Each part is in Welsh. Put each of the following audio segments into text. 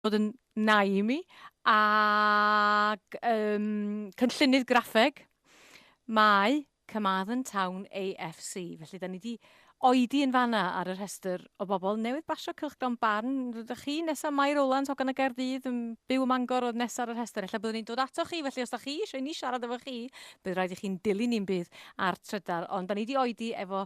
bod yn nai i mi, ac um, cynllunydd graffeg, mae Carmarthen Town AFC. Felly, da ni wedi oedi yn fanna ar y rhestr o bobl newydd basio cylchgron barn. Rydych chi nesaf Mae Rowlands, hogan y Gerdydd, yn byw ym Mangor oedd nesaf ar y rhestr. Efallai byddwn ni'n dod ato chi, felly os da chi eisiau ni siarad efo chi, bydd rhaid i chi'n dilyn ni'n bydd ar trydar. Ond da ni wedi oedi efo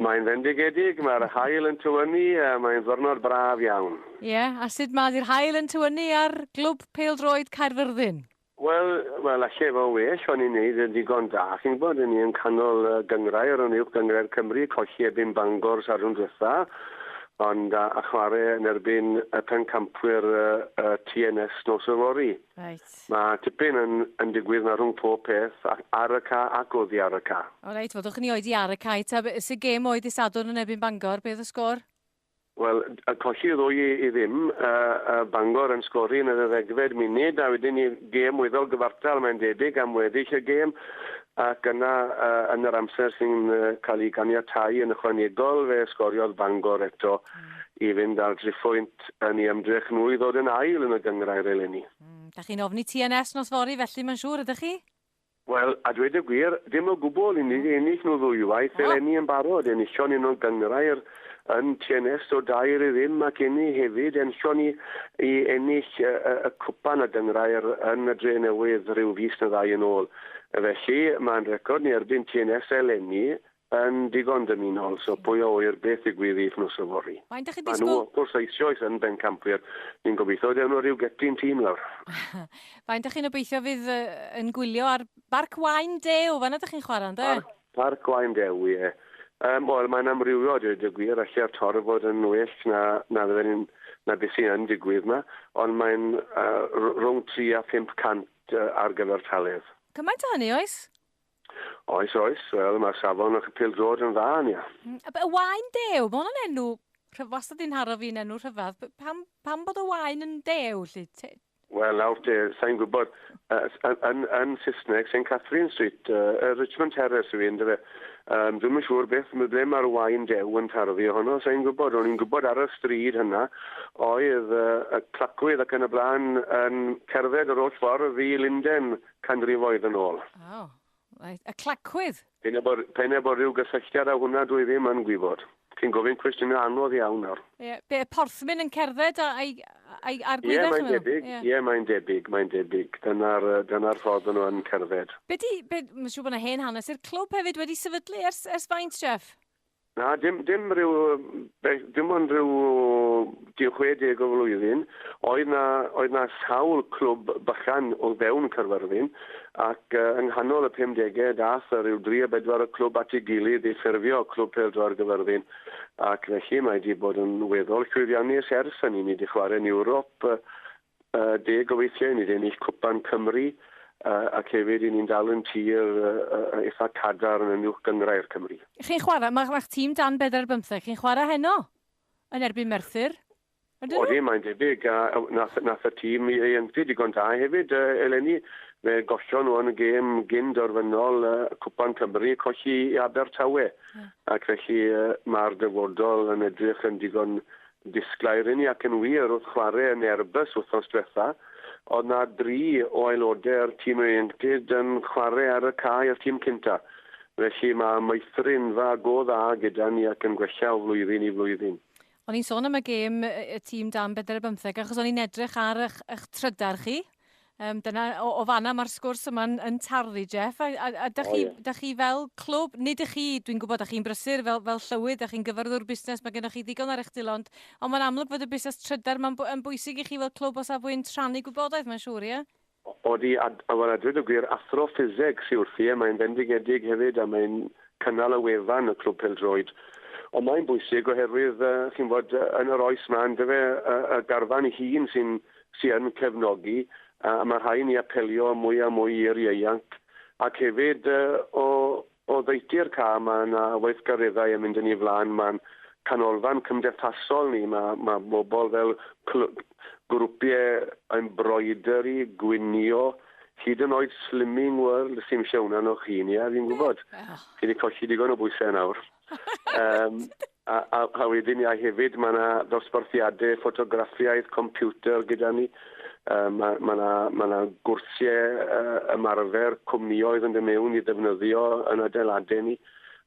Mae'n fendigedig, mae'r haul yn tywynnu, mae'n ddwrnod braf iawn. Ie, a sut mae 'di'r haul yn tywynnu ar Glwb Pêl-droed Caerfyrddin? Wel, wel, alle fo' well o'n i'n neud yn digon da, chi'n gwbod, o'n i yn canol y gynghrair, o'n uwch gynghrair Cymru, colli erbyn Bangor Sadwrn dwetha, ond a a chware yn erbyn y pencampwyr y y TNS nos yfory. Reit. Reit. Mae tipyn yn yn digwydd na rhwng pob peth ac ar y ca ac oddi ar y ca. O reit, wel dwch ni oedi ar y cae ta. Be sy gêm oe dy Sadwrn yn erbyn Bangor, be oedd y sgôr? Wel, y colli ddwy i i ddim, yy yy Bangor yn sgori yn yr ddegfed munud a wedyn ni gêm weddol gyfartal mae'n debyg am weddill y gêm ac yna yy yn yr amser sy'n yy cael ei ganiatáu yn ychwanegol fe sgoriodd Bangor eto i fynd â'r driphwynt yn ei ymdrech nhw i ddod yn ail yn y gynghrair eleni. Mm, da chi'n ofni TNS nos fory felly, mae'n siŵr, ydych chi? Wel, a dweud y gwir, dim o gwbl, i ni wedi ennill nhw ddwywaith eleni yn barod, enillon ni nhw'n gynghrair yn TNS o dair i ddim ac inni hefyd, enillon ni i ennill y, y, y cwpan a gynghrair yn y Dre Newydd rhyw fis na ddau yn ôl. Felly, mae'n record ni erbyn TNS eleni, Yn ddigon dymunol, so pwy a ŵyr beth ddigwydd i Wthnos Yfory. Faint dach chi'n disgwyl? Maen nhw wrth gwrs eisioes yn bencampwyr, ni'n gobeithio dewn nhw ryw geptin tîm lawr. Faint dach chi'n obeithio fydd yn gwylio ar Barc Waun Dew, fan'na dach chi'n chwarae ynde? Ar Parc Waun Dew, ie. Yym, wel, mae'n amrywio a dweud y gwir, alle'r Torf fod yn well na na fydden ni'n na beth sy yn digwydd 'ma, ond mae'n yy r- rhwng tri a phump cant yy ar gyfer taledd. Cymaint â hynny oes? Oes, oes. Wel, mae safon y pildrod yn dda, Ania. Mm, a be- y wain dew, mae hwnna'n enw rhyf- wastad yn haro fi'n enw rhyfedd. P- Pam, pam bod y wain yn dew, lli? Te- Wel, nawr te, sa'n gwybod, uh, yn, yn, yn Saesneg, St Catherine Street, uh, Richmond Terrace yw un, dyfe. Um, dwi'm yn siŵr beth, mae ble mae'r wain dew yn taro fi ohono, sa'n gwybod, o'n i'n gwybod ar y stryd hynna, oedd uh, y clacwydd ac yn y blaen yn cerdded yr holl ffordd i Linden, canrifoedd yn ôl. O, reit. Y clacwydd! P'un a bo', p'un a bo' ryw gysylltiad â hwnna dwi ddim yn gwybod. Chi'n gofyn cwestiynau anodd iawn nawr. Ie, be, y porthmyn yn cerdded a- a'i, a'i, a'r gwydda, chi'n meddwl? Ie, mae'n debyg. Ie. Ie, mae'n debyg, mae'n debyg. Dyna'r, yy, dyna'r ffordd o'n nhw yn cerdded. Be 'di, be, ma' siŵr bod 'na hen hanes i'r clwb hefyd wedi sefydlu ers, ers faint, Jeff? Na, dim dim ryw yym beth dim ond ryw tua 60 o flwyddyn oedd 'na oedd 'na sawl clwb bychan o fewn Caerfyrddin ac yy yng nghanol y pumdege dath yy ryw dri a bedwar o clwb at ei gilydd i ffurfio Clwb Pêl-droed Gaerfyrddin ac felly mae 'di bod yn weddol llwyddiannus ers hynny. Ni 'di chware'n Ewrop yy Ynde, gobeithio i ni ennill Cwpan Cymru ac hefyd i ni'n dal yn tir eitha' cadarn yn Uwch Gynghrair Cymru. Chi'n chwarae, ma' ma'ch tîm dan bedair bymtheg, chi'n chwarae heno yn erbyn Merthyr, ydyn nhw? Odyn, mae'n debyg, a nath nath y tîm ieuenctid digon da hefyd eleni, fe gollon nhw yn y gêm gyn derfynol Cwpan Cymru, colli i Abertawe, ac felly ma'r dyfodol yn edrych yn digon Yn disglair inni ac yn wir wrth chwarae yn Airbus wythnos diwetha, oedd 'na dri o aelodau'r tîm ieuenctid yn chwarae ar y cae â'r tîm cynta. Felly mae meithrinfa go dda gyda ni ac yn gwella o flwyddyn i flwyddyn. O'n i'n sôn am y gêm, y tîm dan bedwar ar bymtheg, achos o'n i'n edrych ar 'ych trydar chi. Um, dyna, o, o fanna mae'r sgwrs yma'n yn tarlu, Jeff. A, a, a da, chi, oh, yeah. chi fel clwb, nid ych chi, dwi'n gwybod, da chi'n brysur fel, fel llywydd, da chi'n gyfarwyddwr busnes, mae gennych chi ddigon ar eich dil, ond, ond mae'n amlwg fod y busnes trydar, mae'n yn bwysig i chi fel clwb o safbwynt rhannu gwybodaeth, mae'n siŵr, ie? Yeah? Odi, a, a fan adryd y gwir, athro ffiseg sy'n wrthi, e, mae'n fendigedig hefyd, a mae'n cynnal y wefan y clwb peldroed. Ond mae'n bwysig oherwydd, uh, chi'n fod, yn yr oes ma, yn dyfe, y, y garfan ei hun sy'n sy yn cefnogi, a ma' rhai' ni apelio am mwy a mwy i'r ieuanc, ac hefyd yy o o ddeutu'r cam, ma' 'na weithgareddau yn mynd yn 'i flan, ma'n canolfan cymdeithasol ni, ma' ma' bobol fel clw- grwpie embroidery, gwnïo, hyd yn oed Slimming World, sim isie hwnna arnoch chi Nia fi'n gwbod, chi 'di colli digon o bwyse nawr, yym. A, a, a wedyn ia hefyd mae yna ddosbarthiadau ffotograffiaeth computer gyda ni. Uh, mae yna ma ma na gwrsiau uh, ymarfer cwmnioedd yn dod mewn i ddefnyddio yn adeiladau ni.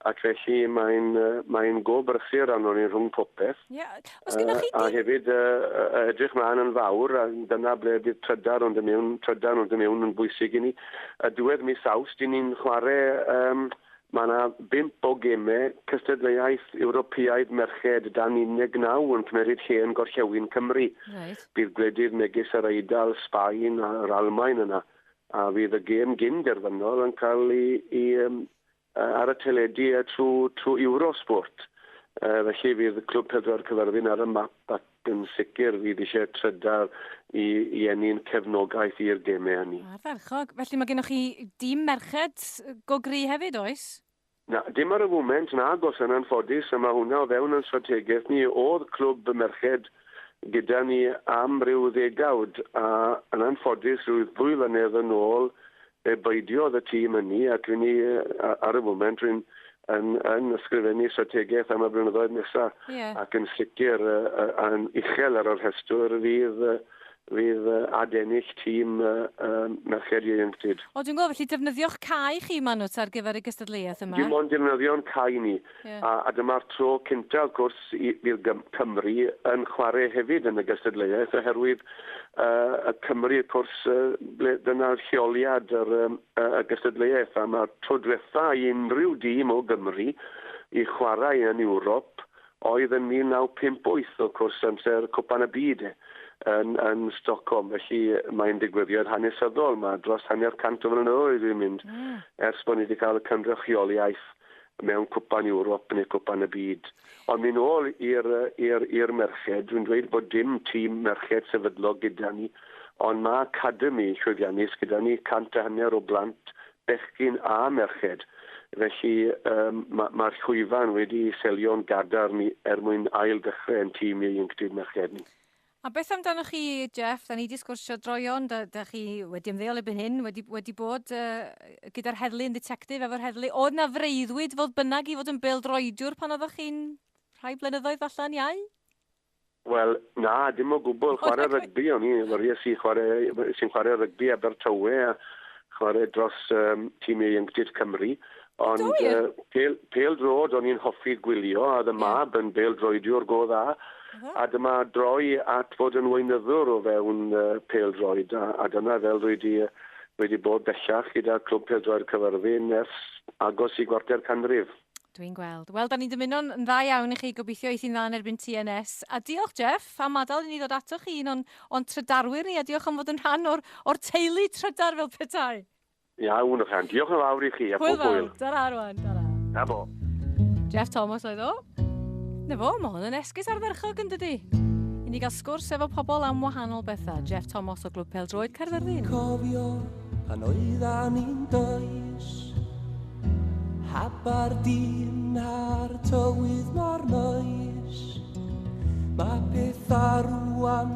Ac felly mae'n uh, mae go brysur arno ni rhwng popeth. Yeah. Os uh, chi... A hefyd uh, uh, edrych mlaen yn fawr, a dyna ble bydd trydar ond y mewn, trydar ond y mewn yn bwysig i ni. A diwedd mis awst, dyn ni'n chwarae um, Mae yna bump o gemau cystadleuaeth Ewropeaidd merched dan 19 yn cymeryd lle yn Gorllewin Cymru. Reit. Bydd gwledydd megis yr Eidal, Sbaen a'r Almaen yna, a fydd y gêm gyn derfynol yn cael i, i um, ar y teledu trwy, trwy Eurosport. Uh, felly fydd Clwb Pêl-droed Cyfyrddin ar y map ac Yn sicr, fydd eisiau trydar i i ennyn cefnogaeth i'r gemau hynny. Ardderchog. Felly mae gennych chi dîm merched go gry hefyd, oes? Na, dim ar y foment, nag oes yn anffodus, a mae hwnna o fewn yn strategaeth ni. Oedd clwb merched gyda ni am ryw ddegawd, a yn anffodus, ryw ddwy flynedd yn ôl, Fe beidiodd y tîm ynni ac ry'n ni ar y foment ry'n yn, yn ysgrifennu strategaeth am y blynyddoedd nesaf. Ie. Ac yn sicr yn uchel ar y rhestr fydd, fydd adennill tîm merched ieuenctid. O, dwi'n gweld, felly defnyddio'ch cae chi, Manwt, ar gyfer y gystadleuaeth yma? Dim ond defnyddio'n cae ni. Ie. A a dyma'r tro cynta wrth gwrs i i'r gym- Cymru yn chware hefyd yn y gystadleuaeth oherwydd yy y Cymru wrth cwrs yy ble dyna oedd lleoliad yr yym y y gystadleuaeth a ma'r tro dwetha i unrhyw dîm o Gymru i chwarae yn Ewrop oedd yn 1958 wrth cwrs amser Cwpan y Byd yn yn Stockholm felly mae'n digwyddiad hanesyddol ma' dros hanner cant o flynyddoedd wedi mynd... Mm. ...ers bo' ni 'di ca'l y cynrychioliaeth mewn cwpan Ewrop neu cwpan y byd. Ond myn ôl i'r i'r i'r merched, dwi'n dweud bod dim tîm merched sefydlog gyda ni, ond ma' academi llwyddiannus gyda ni, cant a hanner o blant, bechgyn a merched. Felly yym ma' ma'r llwyfan wedi selio'n gadarn i er mwyn ail ddechre 'yn tîm ieuenctid merched ni. A beth amdanoch chi, Jeff? Da ni wedi sgwrsio droion, da, da chi wedi ymddeol erbyn hyn, wedi, wedi bod uh, gyda'r heddlu yn ddetectif efo'r heddlu. Oedd na freuddwyd fodd bynnag i fod yn beldroediwr pan oeddech chi'n rhai blynyddoedd falle yn iau? Wel, na, dim o gwbl. Chwarae rygbi, o'n i, wariais i chwarae, sy'n chwarae rygbi Abertawe a chwarae dros um, tîm ieuenctid Cymru. Ond uh, pel, pel drod, o'n i'n hoffi gwylio, a ddy mab yn bel droediwr go dda. A dyma droi at fod yn weinyddwr o fewn uh, pel droed, a, a dyna fel rwy wedi, rwy wedi bod bellach gyda Clwb Pel Droed Cyfyrddin ers agos i gwarter canrif. Dwi'n gweld. Wel, da ni'n dymuno'n yn dda iawn i chi, gobeithio eith i'n dda yn erbyn TNS. A diolch, Jeff, am adael i ni ddod atoch chi un o'n, on trydarwyr ni, a diolch am fod yn rhan o'r, or teulu trydar fel petai. Iawn, Rhan. Diolch yn fawr i chi, a pob hwyl. Tara, Rwan. Tara. Na bo. Jeff Thomas oedd o. Na fo, mae hwn yn esgus ardderchog yn dydy. I ni gael sgwrs efo pobl am wahanol bethau. Jeff Thomas o Glwb Pel Droed Caerfyrddin. Dwi'n cofio pan oeddan ni'n does Habar dyn ar tywydd mor noes Mae pethau rwan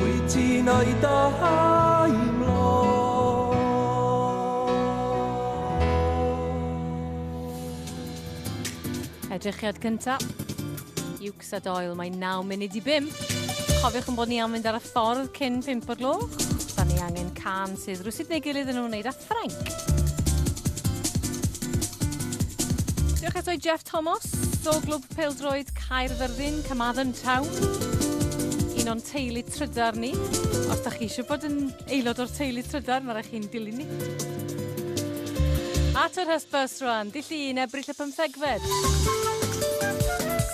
Wyt ti'n o'i Edrychiad cynta. Iwcs a Doyle, mae 9 munud i 5. Cofiwch yn bod ni am fynd ar y ffordd cyn 5 o'r gloch. Da ni angen can sydd rwysydd neu gilydd yn wneud â Ffrainc. Diolch eto i Jeff Thomas, do glwb Pêl-droed Caerfyrddin, Carmarthen Town. Un o'n teulu trydar ni. Os da chi eisiau bod yn aelod o'r teulu trydar, mae rhaid chi'n dilyn ni. At yr hysbys rwan, dyll un ebryll y pymthegfed.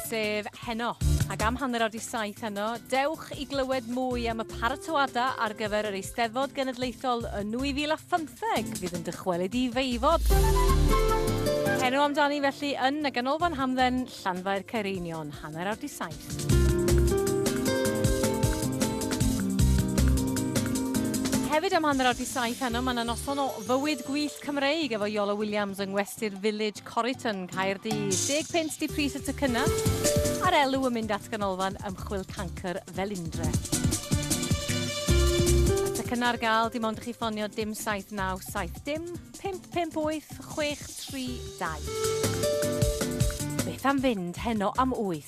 Sef heno. Ac am hanner awr di saith heno, dewch i glywed mwy am y paratoadau ar gyfer yr Eisteddfod Genedlaethol yn 2015. fydd yn dychwelyd i feifod. Henw amdani felly yn y Ganolfan Hamdden, Llanfair Caereinion, hanner awr di saith. hefyd am hanner awr di saith heno, mae yna noson o fywyd gwyllt Cymreig efo Iolo Williams yng Ngwesty'r Village Corryton, Caerdydd. Deg punt di pris y tocynnau a'r elw yn mynd at Ganolfan Ymchwil Cancr Felindre. Y tocynnau ar gael dim ond i chi ffonio dim 7970 dim 558 632. Beth am fynd heno am 8?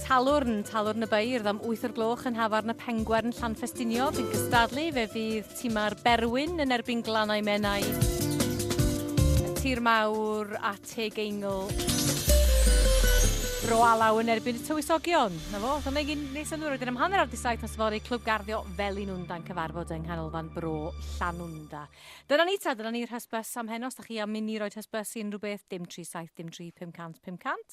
Talwrn, Talwrn y Beirdd am wyth o'r gloch yn Nhafarn y Pengwern, Llanffestiniog, yn cystadlu fe fydd timau'r Berwyn yn erbyn Glannau Menai, y Tir Mawr a Teg Eingl. Bro Alaw yn erbyn y Tywysogion. Na fo, dyna gyn nes yn ddwyr wedyn am hanner ar di saith nos fori Clwb Garddio Felinwnda'n cyfarfod yng Nghanolfan Bro Llanwnda. Dyna ni ta, dyna ni'r hysbys am heno. Os da chi am inni roed hysbys i unrhyw beth, dim 37, dim 3500, 500.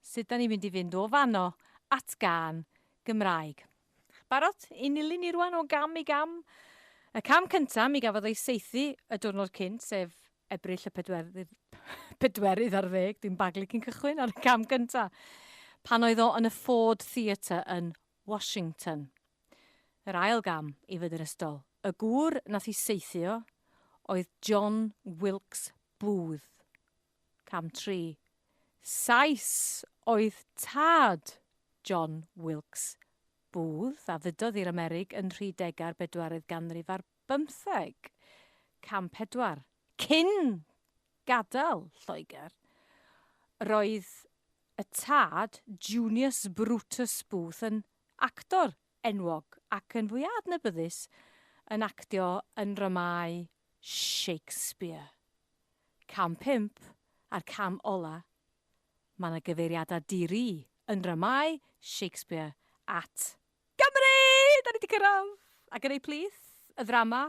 Sut da ni'n mynd i fynd o fanno at gân Gymraeg? Barod i nilyn ni rwan o gam i gam? Y cam cynta mi gafodd ei saethu y diwrnod cynt, sef Ebrill y pedwerydd, pedwerydd ar ddeg, dwi'n baglu cyn cychwyn ar y cam cynta, pan oedd o yn y Ford Theatre yn Washington. Yr ail gam i fyd yr ystol. Y gŵr nath i saethu o oedd John Wilkes Booth. Cam tri. Sais oedd tad John Wilkes Booth a ddudodd i'r Amerig yn rhy dega'r bedwaredd ganrif ar bymtheg. Cam pedwar. Cyn gadael Lloegr, roedd y tad Junius Brutus Booth yn actor enwog ac yn fwy adnabyddus yn actio yn ddramâu Shakespeare. Cam pump a'r cam ola', mae 'na gyfeiriadau di-ri yn ddramâu Shakespeare at. Gymru! Da ni 'di cyrraedd! Ac yn eu plith, y ddrama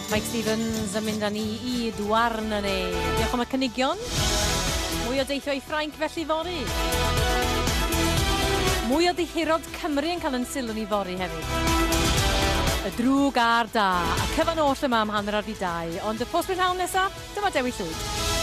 Mike Stevens yn mynd â ni i Douarn ne. Diolch am y cynigion. Mwy o deithio i Ffrainc felly fory. Mwy o ddihirod Cymru yn cael yn sylw ni fory hefyd. Y drwg a'r da. A cyfan oll yma am hanner ar fi dau. Ond y post prynhawn nesa, dyma Dewi Llwyd.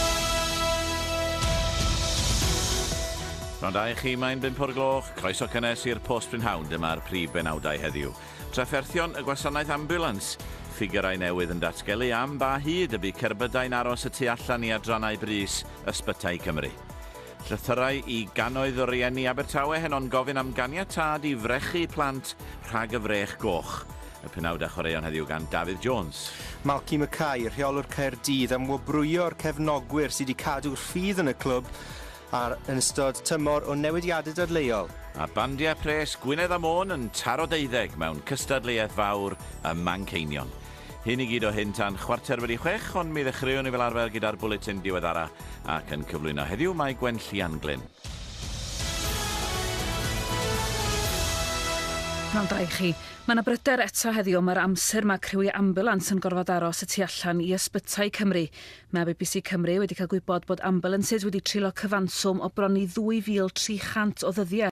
Pnawn da i chi, mae'n bump o'r gloch, croeso cynnes i'r Post Prynhawn, dyma'r prif benawdau heddiw. Trafferthion y gwasanaeth ambiwlans, Ffigyrau newydd yn datgelu am ba hyd y bu cerbydau'n aros y tu allan i adrannau brys Ysbytai Cymru. Llythyrau i gannoedd o rieni Abertawe heno'n gofyn am ganiatâd i frechu plant rhag y frech goch. Y penawd a chwaraeon heddiw gan Dafydd Jones. Malky Mackay, rheolwr Caerdydd, am wobrwyo'r cefnogwyr sydd wedi cadw rhydd yn y clwb Ar yn ystod tymor o newidiadau dadleuol. A bandiau pres Gwynedd a Môn yn taro deuddeg mewn cystadleuaeth fawr ym Manceinion. Hyn i gyd o hyn tan chwarter wedi chwech, ond mi ddechreuwn ni fel arfer gyda'r bwletin diweddara, ac yn cyflwyno heddiw mae Gwen Llianglyn. Pnawn da i chi. Mae yna bryder eto heddiw am yr amser mae criwiau ambiwlans yn gorfod aros y tu allan i ysbytai Cymru. Mae bbc Cymru wedi cael gwybod bod ambylansys wedi treulio cyfanswm o bron i 2,300 o ddyddiau.